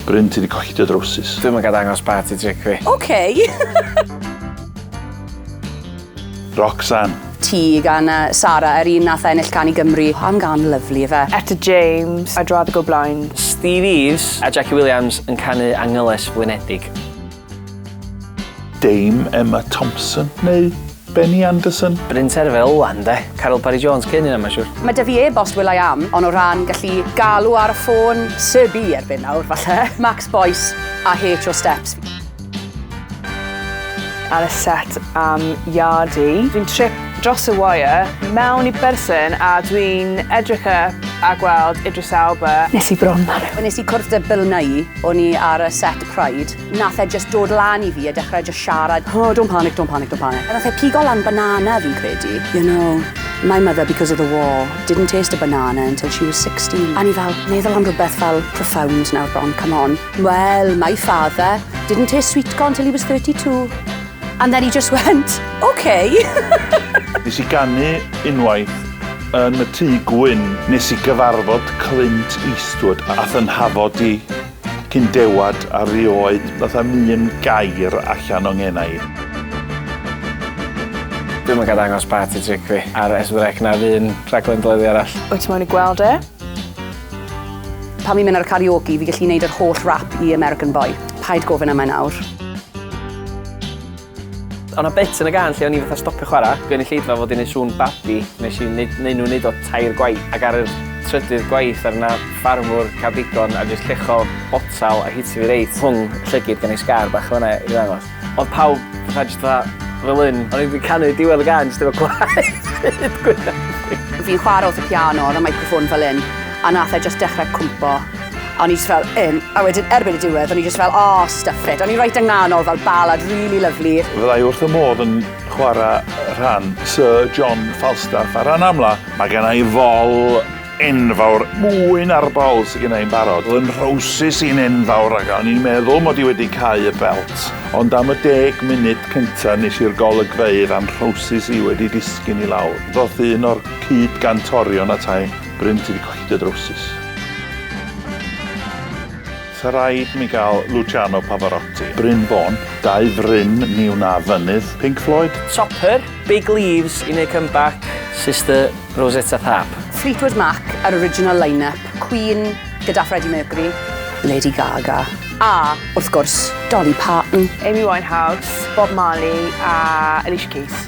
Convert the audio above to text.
Bryn ti di colli dy drowsus. Dwi'm yn ga dangos party trick fi. Ok! Roxanne. Ti gan uh, Sara, yr un nath ennill can i Gymru. Am gan lyflu fe. Etta James, I'd rather go blind. Steve Eves a Jackie Williams yn canu Angyles Flinedig. Dame Emma Thompson neu Benny Anderson? Bryn Terfel o wan de. Caryl Parry Jones cyn hynna mae'n siwr. Mae 'da fi e-bost Will I Am, ond o ran gallu galw ar y ffôn, Sir B erbyn nawr, falle. Max Boyce a H o Steps. Ar y set am Yardie. Dwi'n trip dros y wire mewn i berson a dwi'n edrych up a gweld Idris Elba. Nes i bron, Manu. Nes i cwrdd 'da Bill Nighy, o'n i ar y set. Pride. Nath e jyst dod lan i fi a dechrau jyst siarad, oh don't panic, don't panic, don't panic. A nath e pigo lan banana fi'n credu. You know, my mother, because of the war, didn't taste a banana until she was 16. A ni fel, meddwl am rhywbeth fel profound nawr Bron, come on. Well, my father didn't taste sweet corn till he was 32. And then he just went, okay. Nes i ganu unwaith yn y tŷ gwyn. Nes i gyfarfod Clint Eastwood a fy nhafod i. Cyn dewad a rioed ddath â'm un gair allan o ngennau. Dwi'm yn ga'l dangos party trick fi ar S4C na'r un rhaglen deledu arall. Wyt ti moyn i gweld e? Pan fi'n mynd ar y karaoke fi gallu neud yr holl rap i American Boy. Paid gofyn am e nawr. Oedd 'na bit yn y gân lle o'n i fatha stopio chwara', gynulleidfa fod 'di neud sŵn babi, nes i neud neu' nhw neud o tair gwaith, ac ar yr trydydd gwaith ar 'na ffarmwr ca'l digon a jyst lluchio botel a hitio fi reit rhwng y llygid gan ei sgar bach fan 'na i ddangos. Oedd pawb fatha jyst fatha fel 'yn, o'n i 'di canu diwedd y gân jyst efo gwaed hyd gwyneb fi. Fi'n chwara' wrth y piano, o'dd y meicroffon fel 'yn, a nath e jyst dechre cwmpo. O'n i just fel, um, a wedyn erbyn y diwedd, o'n i just fel, oh, stuff it. O'n i reit ynghanol fel ballad really lovely. Fyddai wrth y modd yn chwarae rhan Sir John Falstaff ar ran amla. Mae gen i fol enfawr, mwy na'r bol sydd gen i'n barod. Fy nhrowsus i'n enfawr ac o'n i'n meddwl mod i wedi cau y belt. Ond am y deg munud cyntaf nes i'r golygfeydd a'n nhrowsus i wedi disgyn i lawr. Ddoth un o'r cyd-gantorion atai. Bryn ti 'di colli dy drowsus. Sa raid mi gael Luciano Pavarotti. Bryn Fôn, dau fryn ni wna fynydd, Pink Floyd? Topper, Big Leaves i neud comeback. Sister Rosetta Tharpe. Fleetwood Mac a'r original line-up, Queen gyda Freddie Mercury. Lady Gaga. A, wrth gwrs, Dolly Parton. Amy Winehouse, Bob Marley a Alicia Keys.